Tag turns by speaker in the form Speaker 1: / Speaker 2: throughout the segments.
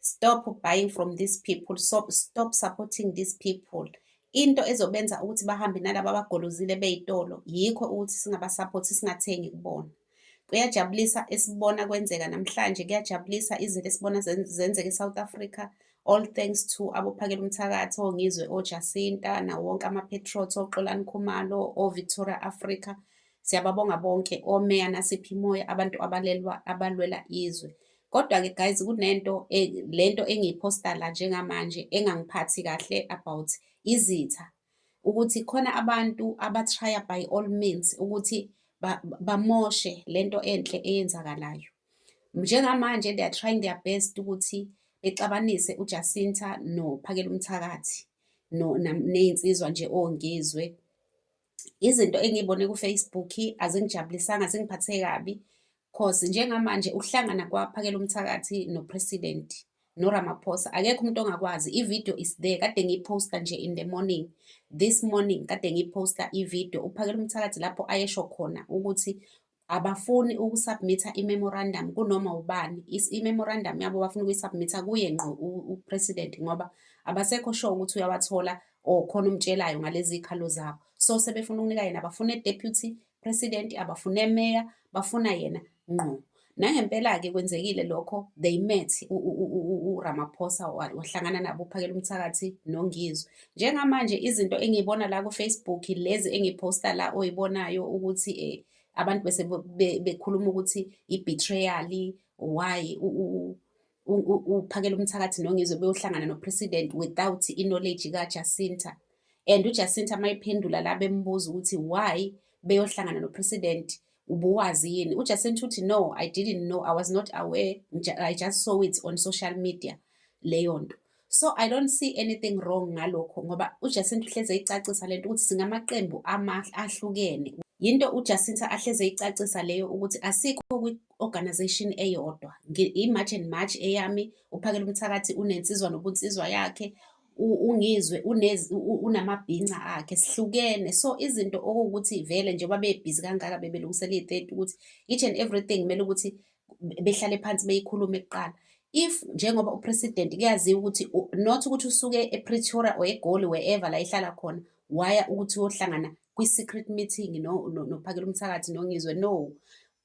Speaker 1: stop buying from these people so stop supporting these people into ezobenza ukuthi bahambe nalaba abagolozile beyitolo yikho ukuthi singabasaphothi singathengi kubona kuyajabulisa esibona kwenzeka namhlanje kuyajabulisa izinto esibona zenzeka e-south africa all thanks to abophakela umthakathi ongizwe ojasinta nawo wonke amapetrot oxolani khumalo ovictoria africa siyababonga bonke omeya nasiphi imoya abantu abalelwa abalwela izwe Kodwa-ke guys kunento e, lento engiyiposta la njengamanje engangiphathi kahle about izitha ukuthi khona abantu abatrya by all means ukuthi bamoshe lento enhle eyenzakalayo njengamanje they are trying their best ukuthi bexabanise uJacinta noPhakela umthakathi no nezinsizwa nje ongizwe izinto engiyibone ku-Facebook azingijabulisanga zingiphathe kabi cause njengamanje uhlangana kwaphakela umthakathi no-president noRamaphosa akekho umuntu ongakwazi ivideo is there kade ngiyiposta nje in the morning this morning kade ngiyiposta ivideo uphakela umthakathi lapho ayesho khona ukuthi abafuni ukusubmitha i-memorandum kunoma ubani i-memorandum yabo bafuna ukuyisubmitha kuye ngqo upresident ngoba abasekho sure ukuthi uyawathola or khona umtshelayo ngalezi zikhalo zabo so sebefuna ukunika yena bafune deputy president abafune mayor bafuna yena ngqo nangempela-ke kwenzekile lokho they met uramaphosa wahlangana nabo uphakela umthakathi nongizwe njengamanje izinto engiyibona la ku-facebook lezi engiphosta la oyibonayo ukuthi um abantu bese bekhuluma ukuthi i-betrayal why uphakela umthakathi nongizwe beyohlangana nopresident without i-knowledge kajacinta and ujacinta uma iphendula la bembuza ukuthi why beyohlangana nopresident ubuwazi yini ujacinta uthi no i didn't know i was not aware i just saw it on social media leyo nto so i don't see anything wrong ngalokho ngoba ujacinta uhleze icacisa lento ukuthi singamaqembu ahlukene yinto ujacinta ahleze icacisa leyo ukuthi asikho kwi-organization eyodwa i-march and march eyami uphakela umthakathi unensizwa nobunsizwa yakhe ungizwe unamabhinca akhe sihlukene so izinto okuwukuthi vele njengoba bebhizi kangaka bebelungisela iy'teti ukuthi each and everything kumele ukuthi behlale phansi beyikhulume kuqala if njengoba upresident kuyaziwa ukuthi not ukuthi usuke epretoria or egoli wherever la ihlala khona waya ukuthi uyohlangana kwi-secret meeting nophakela no, umthakathi nongizwe no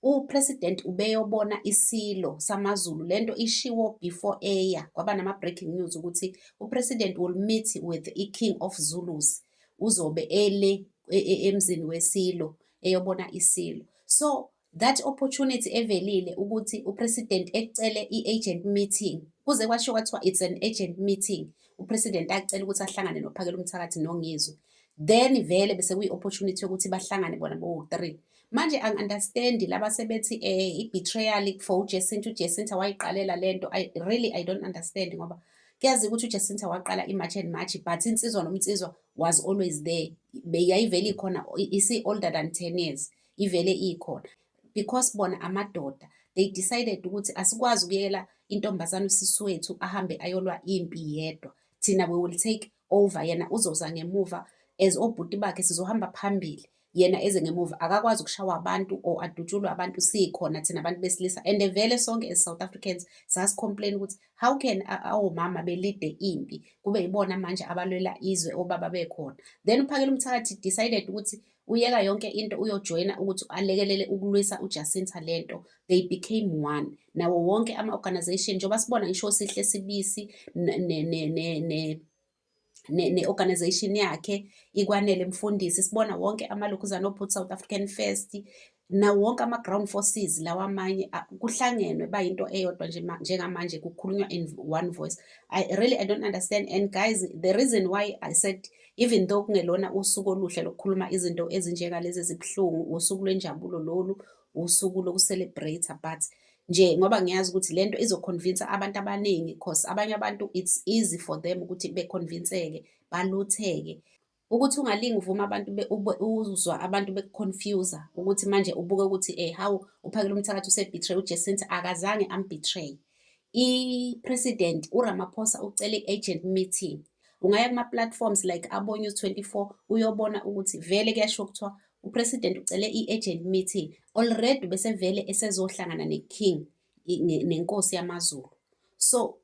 Speaker 1: upresident ubeyobona isilo samazulu lento ishiwo before eya kwaba nama-breaking news ukuthi upresident will meet with i-king of zulus uzobe ele e, e, emzini wesilo eyobona isilo so That opportunity evelile ukuthi upresident ecele i-agent meeting kuze kwasho kwathiwa it's an agent meeting upresident acela ukuthi ahlangane nophakela umthakathi nongizwe then vele bese kuyi-opportunity yokuthi bahlangane bona bowu-three manje angi-understandi laba sebethi um eh, i-betrayal for ujesinta ujesinta wayiqalela le nto i really i don't understand ngoba kuyazi ukuthi ujesinta waqala imarch and march but insizwa nomnsizwa was always there yayivele ikhona isi-older than ten years ivele ikhona because bona amadoda they decided ukuthi asikwazi ukuyela intombazane usisi wethu ahambe ayolwa impi yedwa thina we will take over yena uzoza ngemuva as obhuti bakhe sizohamba phambili yena eze ngemuva akakwazi ukushawa abantu or adutshulwe abantu sikhona thina abantu besilisa and vele sonke as South Africans sasicomplain ukuthi how can awomama belide impi kube yibona manje abalwela izwe obaba bekhona then uphakela umthakathi decided ukuthi uyeka yonke into uyojoyina ukuthi alekelele ukulwisa uJacinta lento they became one nawo wonke ama organization njengoba sibona ngisho sihle sibisi ne ne ne ne ne-organization yakhe ikwanele mfundisi sibona wonke amalokhuzana obhuti south african first nawo wonke ama-ground forces lawa amanye kuhlangenwe bayinto eyodwa nje njengamanje kukhulunywa in one voice I, really i don't understand and guys the reason why i said even though kungelona usuku oluhle lokukhuluma izinto ezinjengalezi ezibuhlungu usuku lwenjabulo lolu usuku lokucelebrate but nje ngoba ngiyazi ukuthi lento izoconvince abantu abaningi because abanye abantu it's easy for them ukuthi beconvinceke balutheke ukuthi ungalingi uvuma abantu uzwa abantu bekuconfuser ukuthi manje ubuke ukuthi eh hawu uphakela umthakathi usebetray uJesinta akazange ambetray i-president uRamaphosa ucele i-agent meeting ungaya kuma-platforms like abonews 24 uyobona ukuthi vele kuyasho kuthiwa upresident ucele i-agent meeting already besevele esezohlangana ne-king nenkosi yamazulu so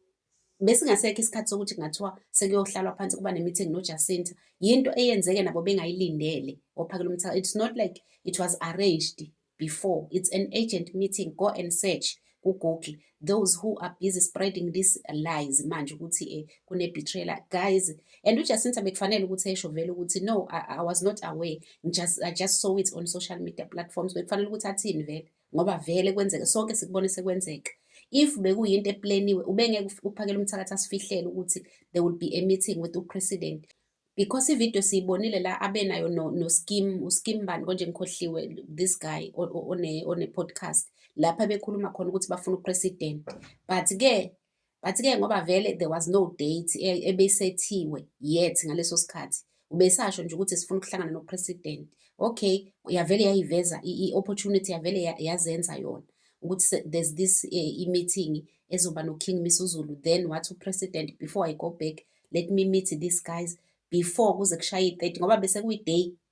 Speaker 1: besingasekho isikhathi sokuthi kungathiwa sekuyohlalwa phansi kuba ne-meeting nojacinta yinto eyenzeke nabo bengayilindele ophakela umthaka it's not like it was arranged before it's an agent meeting go and search kugoogle those who are busy spreading these lies manje ukuthi um kune-betrayla guys and ujacinta bekufanele ukuthi esho vele ukuthi no I, i was not aware I just, i just saw it on social media platforms bekufanele ukuthi athini vele ngoba vele kwenzeke sonke sikubone sekwenzeka if bekuyinto epleniwe ubengeke uphakele umthakathi asifihlele ukuthi there will be a meeting with upresident because ivideo siyibonile la abenayo noskim no uskim bani konje ngikhohliwe this guy one-podcast lapha bekhuluma khona ukuthi bafuna upresident but-ke but ke ngoba vele there was no date e, ebesethiwe yet ngaleso sikhathi ubesasho nje ukuthi sifuna ukuhlangana nopresident okay yavele yayiveza i-opportunity yavele yazenza yona ukuthi there's this eh, i-meeting ezoba noking misuzulu then wathi upresident before i go back let me meet these guys before kuze kushaye i-30 ngoba bese kuyi-day